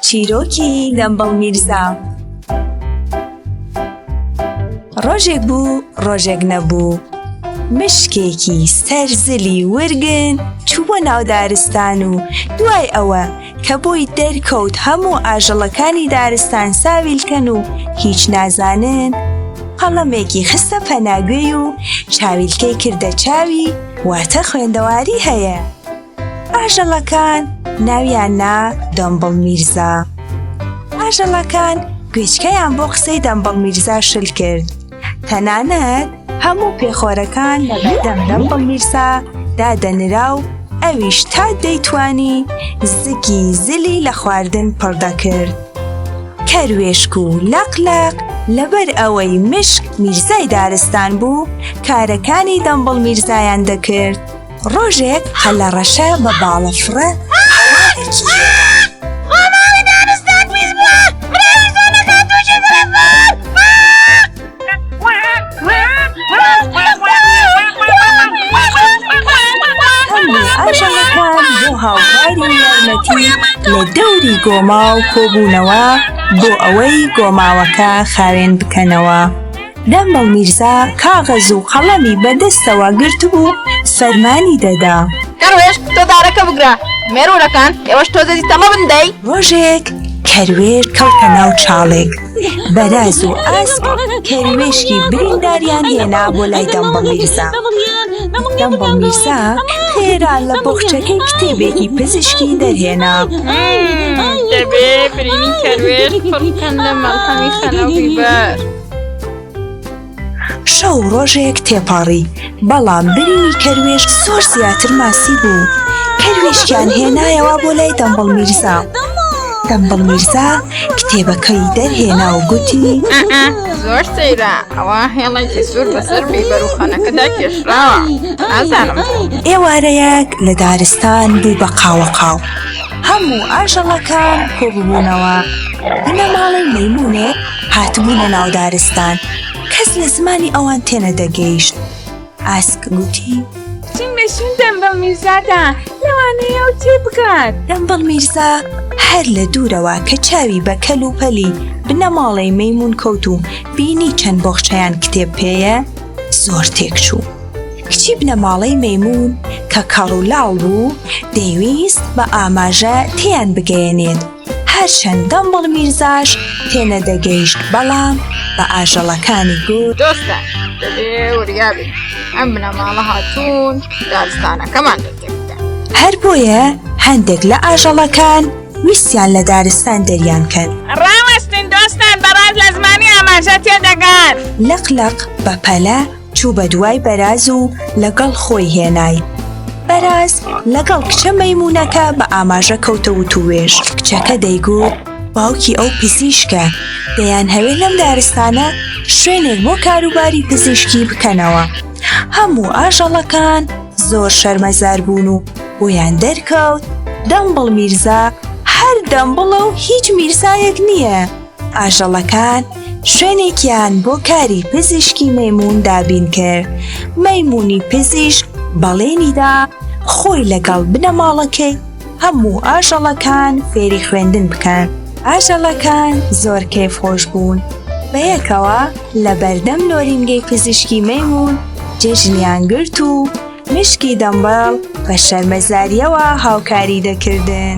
چیرۆکی دەمبڵ میرزا ڕۆژێک بوو ڕۆژێک نەبوو مشکێکی سەرزلی ورگن چوو بۆ ناودارستان و دوای ئەوە کە بۆی دەرکەوت هەموو ئاژەڵەکانی دارستان ساویلکەن و هیچ نازانن قەڵەمێکی خستە پەناگوێی و چاویلکەی کردە چاوی واتە خوێندەواری هەیە. ئاژەڵەکان ناویان نا دەمبڵ میرزا ئاژەڵەکان گوێچکەیان بۆ قسەی دەمبڵ میرزا شل کرد تەنانەت هەموو پێخۆرەکان لە بەردەم دەمبڵ میرزا دادەنرا و ئەویش تا دەیتوانی زگی زلی لە خواردن پڕ دەکرد کەروێشک و لەق لەق لەبەر ئەوەی مشک میرزای دارستان بوو کارەکانی دەمبڵ میرزایان دەکرد ڕۆژێک قەلەڕەشە بە باڵەفڕە هەوارێکی لێداو. هەموو ئاژەڵەکان بۆ هاوکاری یارمەتی لە دەوری گۆماو کۆبوونەوە بۆ ئەوەی گۆماوەکە خاوێن بکەنەوە. دەمبەڵ میرزا کاغەز و قەڵەمی بە دەستەوە گرتبوو فەرمانی دەدا. کەروێش تۆ دارەکە بگرە. مێروورەکان ئێوەش تۆزێتی تەمە بن دەی. ڕۆژێک کەروێش کەوتە ناو چاڵێک. بەراز و ئاسک کەروێشکی برینداریان هێنا بۆ لای دەمبەڵ میرزا. دەمبەڵ میرزا خێرا لە بۆخچەکەی کتێبێکی پزیشکی دەرهێنا. دەبێ برینی کەروێش پڕ بکەم لە مەڵهەمی خەنە و بیبەر. شەو ڕۆژێک تێپەڕی، بەڵام برینی کەروێش زۆر زیاتر ماسی بوو، کەروێشکیان هێنایەوە بۆ لای دەمبڵ میرزا. دەمبڵ میرزا کتێبەکەی دەرهێنا و گوتی زۆر سەیرە ئەوە هێڵێکی سوور بەسەر بیبەر و خەنەکەدا کێشراوە ئازانم ئێوارەیەک لە دارستان بوو بە قاوەقاو هەموو ئاژەڵەکان کۆبوونەوە بنەماڵەی مەمونێک هاتبوونە ناو دارستان کەس لە زمانی ئەوان تێنەدەگەیشت ئاسک گوتی چینگەشین دەمبڵ میرزادا لەوانەیە و تێ بکات دەمبڵ میرزا هەر لە دوورەوە کە چاوی بە کەل و پەلی بنەماڵەی مەمون کەوت و بینی چەند بۆخشەیان کتێب پێەیە زۆر تێک چوو کچی بنەماڵەی مەمون کە کەڕولاڵ بوو دەیویست بە ئاماژە تیان بگەیەنێت هەرچەندە مڵ میرزاش تێنەدەگەیشت بەڵام بە ئاژەڵەکانی گوت دۆستە دەبێ وریا بێت ئەم بنەماڵە هاتوون دارستانەکەمان دەتێکدا هەر بۆیە هەندێک لە ئاژەڵەکان ویستیان لە دارستان دەریان کەن ڕاوەستن دۆستان بەڕاز لە زمانی ئاماژە تێدەگات لەقلەق بەپەلە چوو بە دوای بەراز و لەگەڵ خۆی هێنای بەراز لەگەڵ کچە مەمونونەکە بە ئاماژە کەوتە وتوێژ کچەکە دەیگوت باوکی ئەو پزیشکە دەیان هەوێ لەم دارستانە شوێنێک بۆ کاروباری پزیشکی بکەنەوە هەموو ئاژەڵەکان زۆر شەرمەزار بوون و بۆیان دەرکەوت دەمبڵ میرزا هەر دەمبڵە و هیچ میرزایەک نییە. ئاژەڵەکان شوێنێکیان بۆ کاری پزیشکی مەمون دابین کرد مەمونی پزیشک بەڵێنیدا خۆی لەگەڵ بنەماڵەکەی هەموو ئاژەڵەکان فێری خوێندن بکەن ئاژەڵەکان زۆر کەیف خۆش بوون بەیەکەوە لە بەردەم نۆرینگەی پزیشکی مەمون جێژنیان گرت و مشکی دەمبەڵ بە شەرمەزاریەوە هاوکاری دەکردن.